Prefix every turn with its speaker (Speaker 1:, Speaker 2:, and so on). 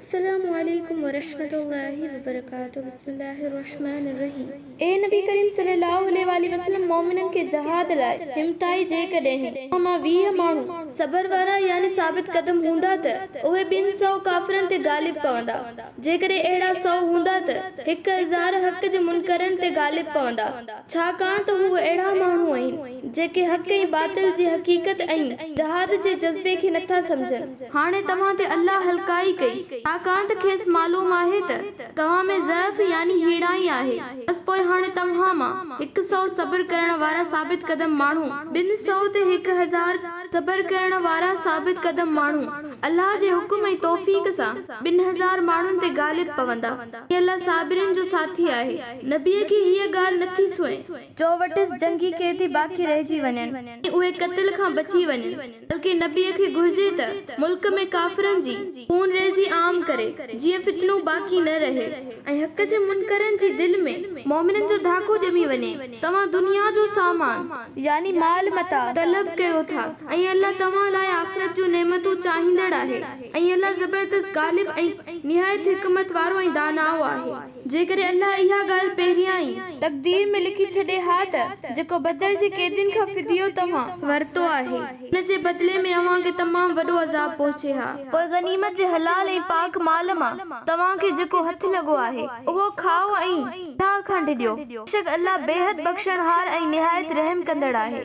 Speaker 1: السلام عليڪم ورحمة الله وبرڪاته بسم الله الرحمٰن الرحيم اي نبي ڪريم صلي الله عليه واٰله وسلم مؤمنن کي جهاد لاء همٿائي جيڪڏهن اوهان مان ويهه ماڻهو صبر وارا يعني ثابت قدم هوندا ته اهي ٻن سؤ ڪافرن تي غالب پوندا جيڪڏهن اهڙا سؤ هوندا ته هڪ هزار حق جي منڪرن تي غالب پوندا ڇاڪاڻ ته هو اهڙا ماڻهو آهن. جيڪي حق ۽ باطل جي حقيقت ۽ جهاد جي جذبي کي نٿا سمجهن. هاڻي توهان تي الله هلڪائي ڪئي، ڇاڪاڻ ته کيس معلوم آهي ته توهان ۾ ضعف يعني هيڻائي آهي، بس پوء هاڻي توهان مان هڪ سؤ صبر ڪرڻ وارا ثابت قدم ماڻهو، ٻن سؤ تي هڪ هزار صبر ڪرڻ وارا ثابت قدم ماڻهو، الله جي حڪم ۽ توفيق سان ٻن هزار ماڻهن تي غالب پوندا، هي الله صابرين جو ساٿي آهي. نبيء کي هيء ڳالهه نٿي سونهي. جو وٽس جنگي قيدي باقي رهجي وڃن ۽ اهي قتل کان بچي وڃن بلڪه نبيء کي گهرجي ته ملڪ ۾ ڪافرن جي خون ريزي عام ڪري جيئن فتنو باقي نه رهي ۽ حق جي منڪرن جي دل ۾ مؤمنن جو ڌاڪو ڄمي وڃي توهان دنيا جو سامان يعني مال متاع طلب ڪيو ٿا ۽ الله توهان لاء آخرت جون نعمتون چاهيندڙ آهي ۽ الله زبردست غالب ۽ نهايت حڪمت وارو ۽ دانائو آهي. جيڪڏهن الله اها ڳالهه پهريان ئي. تقدير ۾ لکي ڇڏي ها ته جيڪو بدر جي قيدين کان فديو توهان. ورتو آهي، ان جي بدلي ۾ اوهان کي تمام وڏو عذاب پهچي ها. پوء غنيمت جي حلال ۽ پاڪ مال مان توهان کي جيڪو هٿ لڳو آهي، اهو کائو ۽ الله کان ڊڄو، بيشڪ الله بيحد بخشڻهار ۽ نهايت رحم ڪندڙ آهي.